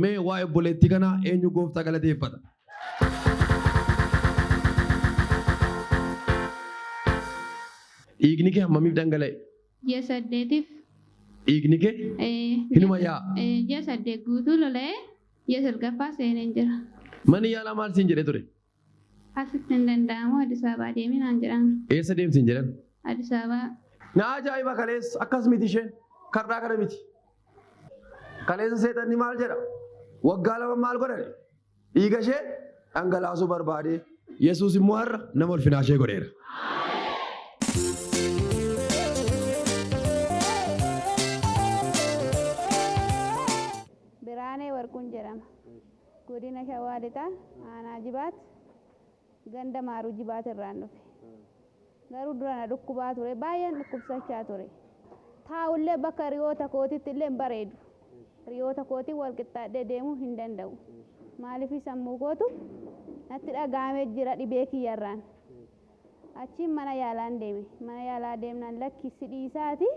Mee waa'ee obboleettii kanaa eenyu gooftaa galateeffata? Dhiigni kee hammamiif dhangala'e? Ji'a saddeetiif Dhiigni kee eh, hinuma ji'a- yaa'a. eh, ji'a saddeet guutuu lola'ee ji'a salgaffaa seeneen jira. Manni yaalaa maal siin jedhee ture? Asitti hin danda'amu Addis Ababaa deemi naan jedhan. Eessa deemti hin jedhan? Addis Ababaa. Na ajaa'iba kaleessa akkas miti isheen kardhaa kana miti. Kaleessa seexanni maal jedha? Waggaa lama maal godhani? Dhiiga ishee dhangalaasuu barbaade. Yesuus immoo har'a nama ulfinaa ishee godheera. Biraanee Warquun jedhama. Godina Shawaa Lixaa Aanaa Jibaat ganda Maaruu Jibaat irraan dhufe. Garuu dura na dhukkubaa ture. Baay'een dhukkubsachaa ture. Taa'ullee bakka hiriyoota kootiitti illee hin bareedu. Hiriyoota kootiin wal qixxaadhee deemuu hin danda'u. Maaliif sammuu kootu natti dhaga'amee jira dhibee kiyyarraan. Achiin mana yaalaan deeme. Mana yaalaa deemnaan lakki si dhiisaati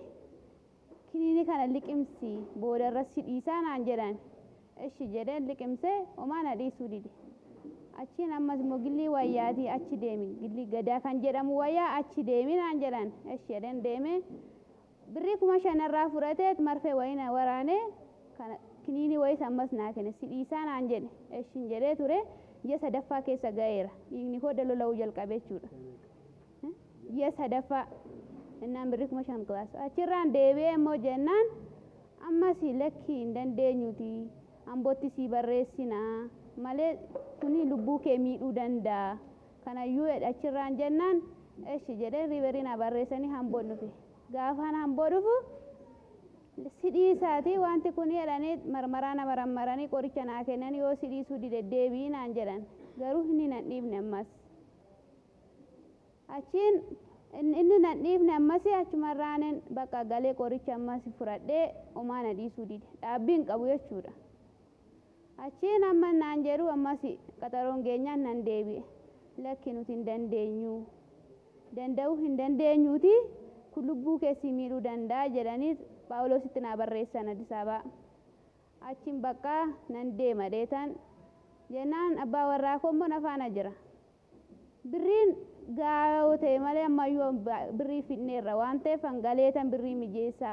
Kiniinii kana liqimsi boodarra si dhiisaa naan jedhan. Eshi jedheen liqimse omaa na dhiisuu dide. Achiin ammas immoo gillii wayyaatii achi deemi gillii gadaa kan jedhamu wayyaa achi deemi naan jedhan. Eshi jedheen deemee birrii kuma shan narraa fudhateet marfee wayii na waraanee kana kiniinii wayiis ammas naa kene si dhiisaa naan jedhe. Eshin jedhee turee ji'a sadaffaa keessa ga'eera dhiigni koo dalola'uu jalqabe jechuudha. ji'a sadaffaa jennaan birrii kuma shan class achirraan deebi'ee immoo jennaan ammas lakkii hin dandeenyuti ambotti sii barreessina malee kuni lubbuu kee miidhuu danda'a kanayyuu jedhe achirraan jennaan eshi jedhee riiverii naa barreessanii hamboon dhufe gaafaan hamboo dhufu si dhiisaati wanti kun jedhanii marmaraa na marammaranii qoricha naa kennan yoo si dhiisuu dide deebi'i naan jedhan garuu inni nan dhiifne ammas Achiin inni nan dhiifne ammasi achumarraanin bakka galee qoricha ammasi fudhadhee omaa na dhiisuu dide. Dhaabbii hin qabu jechuudha. Achiin amma naan jedhu ammasi qaxaroon geenyaan nan deebi'e. Lakki nuti hin dandeenyu. Danda'uu hin dandeenyuuti kun lubbuu kee si miidhuu danda'a jedhanii Phaawuloositti naa barreessan Addisaabaa. Achiin baqqaa nan deema dheetan jennaan abbaa warraa koo immoo na faana jira. Birriin gahaa yoo ta'e malee ammayyuu birrii fidneerra waan ta'eef an galeetan birrii mijeessa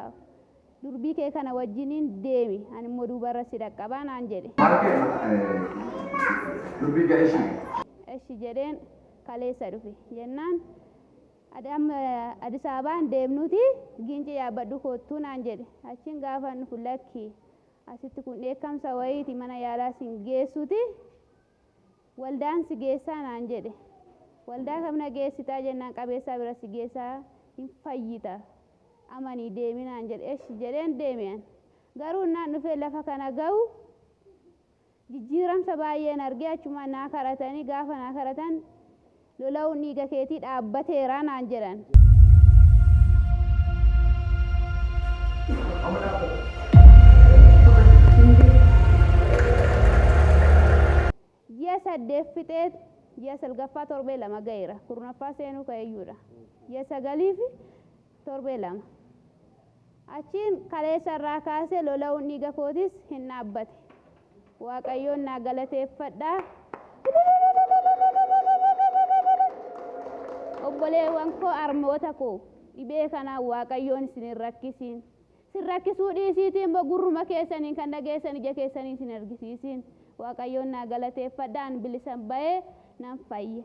durbii kee kana wajjiniin deemi animmoo duubarra si dhaqqabaa naan jedhe. Durbii kee eshi. Eshi jedheen kaleessa dhufe jennaan ati amma Addis Ababaa hin deemnuuti Giincii yaabbadhu koottu naan jedhe achiin gaafan dhufu lakki asitti kun dheekkamsa wayiiti mana yaalaa sin geessuuti Waldaan si geessaa naan jedhe. Waldaa kam na geessitaa jennaan qabeessaa bira si geessaa hin fayyita amanii deemi naan jedhe eshi jedheen deeme an. Garuu innaan dhufee lafa kana gahu jijjiiramsa baay'een arge achumaan naa kadhatanii gaafa naa kadhatan Lola'uun dhiiga keetii dhaabbateera naan jedhan. Ji'a saddeet fixee ji'a salgaffaa torbee lama ga'eera. Kurnaffaa seenuu ka'eeyyuudha. Ji'a sagaliifi torbee lama. Achiin kaleessa irraa kaasee lola'uun dhiiga kootiis hin dhaabbate. Waaqayyoon naa galateeffadhaa. Obboleewwan koo armoota koo dhibee kanaan Waaqayyoon isin hin rakkisiin. Isin rakkisuu dhiisiitii immoo gurruma keessaniin kan dhageessan ija keessaniin isin argisiisiin. Waaqayyoon naa galateeffadhaa an bilisan ba'ee nan fayye.